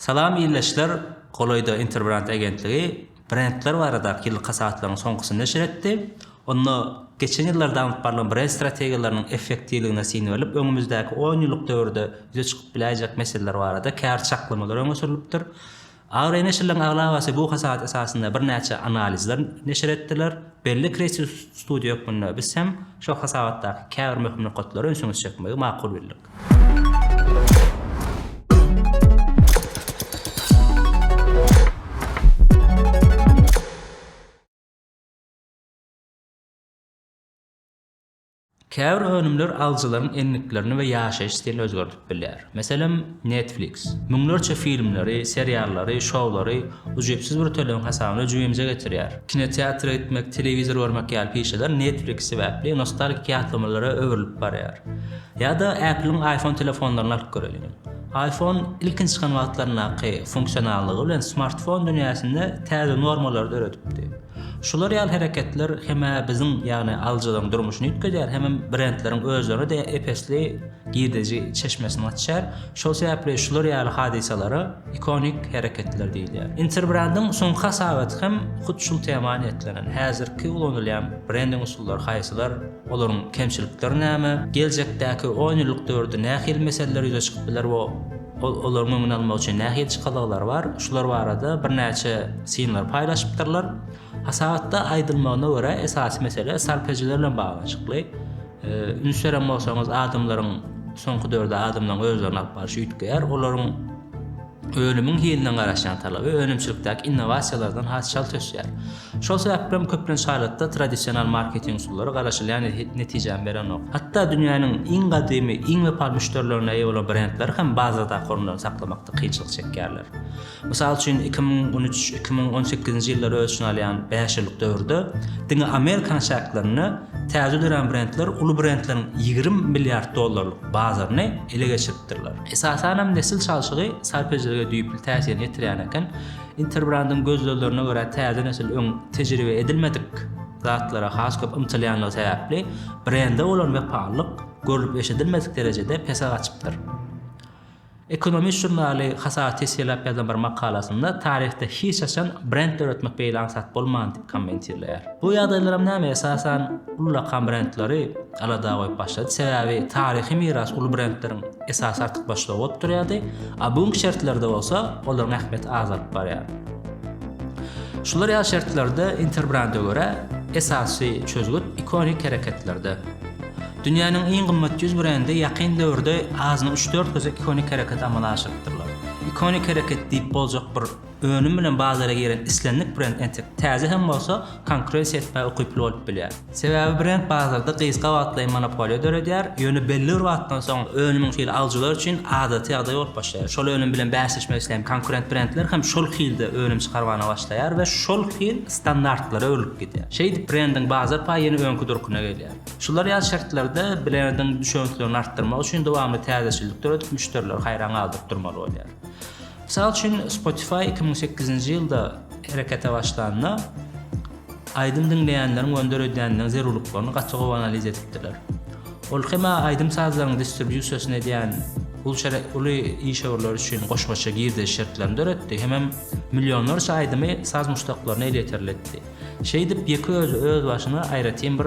Salam ildeşler! Golaýda Interbrand agentligi brendler baradaky ýyllyk hasabatlarynyň soňkusyny neşir etdi. Onda geçen ýyllarda alnyp barlan brend strategiýalarynyň effektiwligine syn berlip, öňümizdäki on ýyllyk döwürde ýüze çykyp biläýjek meseleler barada käbir çaklamalar öňe sürlüpdir. Agr neşirleriň aglabasy bu hasabat esasynda birnäçe analizler neşir etdiler. Belli kreativ studiýa hökmünde biz hem şol hasabatdaky käbir möhüm nokatlary ünsüňizi çekmegi makul bildik. Käbir önümler alyjylaryň endiklerini we ýaşaýyş stilini özgerdip bilýär. Meselem, Netflix. Müňlerçe filmleri, seriallary, şoulary ujypsyz bir tölegiň hasabyna jübimize getirýär. Kinoteatra gitmek, telewizor görmek ýaly pişeler Netflix sebäpli nostalgik ýatlamalara öwrülip barýar. Ýa-da Apple-iň iPhone telefonlaryny alyp göreliň. Iphone ilkinji çykan wagtlaryndaky funksionallygy bilen smartfon dünýäsinde täze normalary döredipdi. Şular ýaly hereketler hem-ä biziň, ýagny alyjylaryň durmuşyny üýtgedýär, hemem brendleriň özlerine-de ep-esli girdeji çeşmesini açýar. Şol sebäpli şular ýaly hadysalara ikonik hereketler diýilýär. Interbrand-iň soňky hasabaty hem hut şul tema niýetlenen. Häzirki ulanylýan brending usullary haýsylar? Olaryň kemçilikleri näme? Geljekdäki on ýyllyk döwürde nähili meseleler ýüze çykyp biler we ol olaryň öňüni almak üçin nähili çykalgalary bar? Şular barada birnäçe synlary paýlaşypdyrlar. Hasabatda aýdylmagyna görä, esasy mesele sarp ejiler bilen baglanyşykly. Üns beren bolsaňyz, adamlaryň soňky döwürde adamlaryň özlerini alyp barşy üýtgeýär. Olaryň önümiň hiline garaşýan talaby önümçilikdäki innowasiýalardan has çalt ösýär. Şol sebäpli hem köplenç halatda tradisional marketing usullary garaşylýan netijäni berenok. Hatda dünýäniň iň gadymy, iň wepaly müşderilerine eýe bolan brendler hem bazardaky orunlaryny saklamakda kynçylyk çekýärler. Mysal üçin, iki müň on üç, iki müň on sekizinji ýyllary öz içine alýan bäş ýyllyk döwürde diňe Amerikanyň çäklerinde täze dörän brendler uly brendleriň ýigrimi milliard dollarlyk bazaryny ele geçiripdirler. Esasan hem nesil çalşygy sarp edijilige düýpli täsirini ýetirýän eken. Interbrandyň gözleglerine görä täze nesil öň tejribe edilmedik zatlara has köp ymtylýandygy sebäpli brende bolan wepalylyk görlüp-eşidilmedik derejede pese gaçypdyr. Economist žurnaly hasaba teswirläp ýazan bir makalasynda taryhda hiç haçan brend döretmek beýle aňsat bolmandy. kommentirleýär. Bu ýagdaýlaram näme esasan ullakan brendleri alada goýup başlady, sebäbi taryhy miras uly brendleriň esasy artykmaçlygy bolup durýardy, a bu günki şertlerde bolsa olaryň ähmiýeti azalyp barýar. Şular ýaly şertlerde Interbranda görä, esasy çözgüt ikonik hereketlerde. Dünýäniň iň gymmat ýüz brendi ýakyn döwürde azyna üç-dört gezek ikonik hereket amala aşyrypdyrlar. Ikonik hereket diýip boljak bir Önüm bilen bazara giren islendik brend entek täze hem bolsa, konkurensiýa etmäge ukyply bolup bilýär. Sebäbi brend bazarda gysga wagtlaýyn monopoliýa döredýär, ýöne belli bir wagtdan soň önümiň hili alyjylar üçin adaty ýagdaý bolup başlaýar. Şol önüm bilen bäsleşmek isleýän konkurent brendler hem şol hilde önüm çykarmana başlaýar we şol hil standartlara öwrülip gidýär. Şeýdip, brendiň bazar paýy ýene öňki durkuna gelýär. Şular ýaly şertlerde brendiň düşewüntligini artdyrmak üçin dowamly täzeçillik döredip, müşderileri haýran galdyryp durmaly bolýar. Mysal üçin, Spotify iki müň sekizinji ýylda herekete başlanda, aýdym diňleýänleriň we önder edýänleriň zerurlyklaryny gaty gowy analiz edipdiler. Ol hem aýdym-sazlaryň distribýusiýasyny edýän uly işewürler üçin goşmaça girdeji şertlerini döretdi, hemem millionlarça aýdymy saz muşdaklaryna elýeterli etdi. Şeýdip, ýeke özi öz başyna aýratyn bir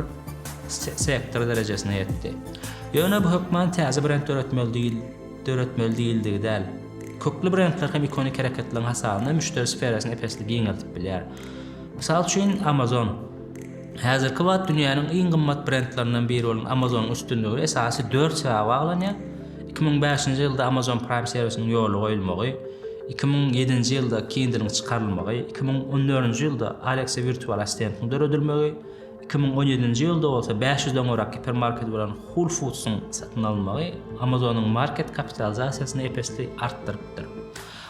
sektor derejesine ýetdi. Ýöne bu hökman täze brend döretmeli döretmeli diýildigi däl. Kökli brendler hem ikonik hereketleriň hasabyna müşderi sferasyny ep-esli giňeldip bilýär. Mysal üçin, Amazon. Häzirki wagt dünýäniň iň gymmat brendlerinden biri bolan Amazon-yň üstünligi esasy dört sebäbe baglanýar, iki müň bäşinji ýylda Amazon Prime serwisiniň ýola goýulmagy, iki müň ýedinji ýylda Kindle-iň çykarylmagy, iki müň on dördünji ýylda Alexa wirtual assistentiň döredilmegi, Iki müň on ýedinji ýylda bolsa bäş ýüzden gowrak gipermarkedi bolan Whole Foods-yň satyn alynmagy Amazon-yň market kapitalizasiýasyny ep-esli artdyrypdyr.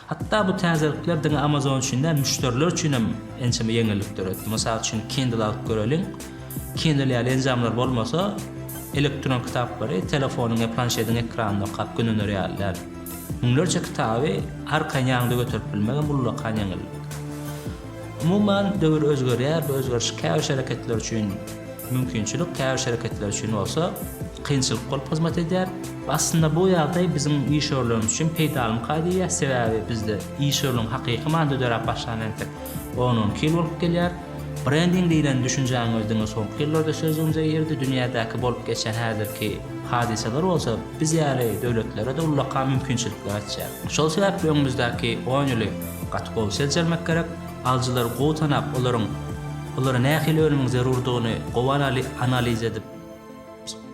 Hatda bu täzelikler diňe Amazon üçin däl, müşderiler üçin hem ençeme ýeňillik döretdi. Mysal üçin, Kindle alyp göreliň. Kindle ýaly enjamlar bolmasa, elektron kitaplary telefonyň ýa planşetiň ekranynda okap gündonar ýaly däl. Müňlerçe kitaby arkaýyn ýaňyňda göterip bilmegem ullakan ýeňillik. Umuman, döwür özgerýär, bu özgeriş käbir şereketler üçin mümkinçilik, käbir şereketler üçin bolsa kynçylyk bolup hyzmat edýär. Aslynda bu ýagdaý biziň işewürlerimiz üçin peýdalymyka diýýär, sebäbi bizde işewürligiň hakyky manyda döräp başlanyna entek on-on iki ýyl bolup gelýär. Brending diýlen düşünjäniň özi diňe soňky ýyllarda sözlügimize girdi, dünýädäki bolup geçen häzirki hadysalar bolsa biz ýaly döwletlere-de ullakan mümkinçilikler açýar. Şol sebäpli öňümizdäki on ýyly Gaty gowy seljermek gerek, alyjylary gowy tanap, olaryň olara nähili önümiň zerurdygyny gowy analiz edip,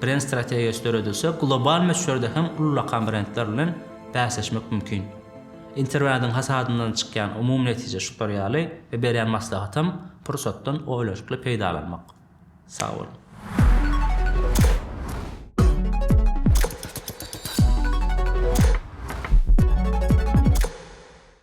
brend strategiýasy döredilse, global möçberde hem ullakan brendler bilen bäsleşmek mümkin. Interwýuň hasadyndan çykýan umumy netije şular ýaly we berýän maslahatym, pursatdan oýlanyşykly peýdalanmak. Sag boluň!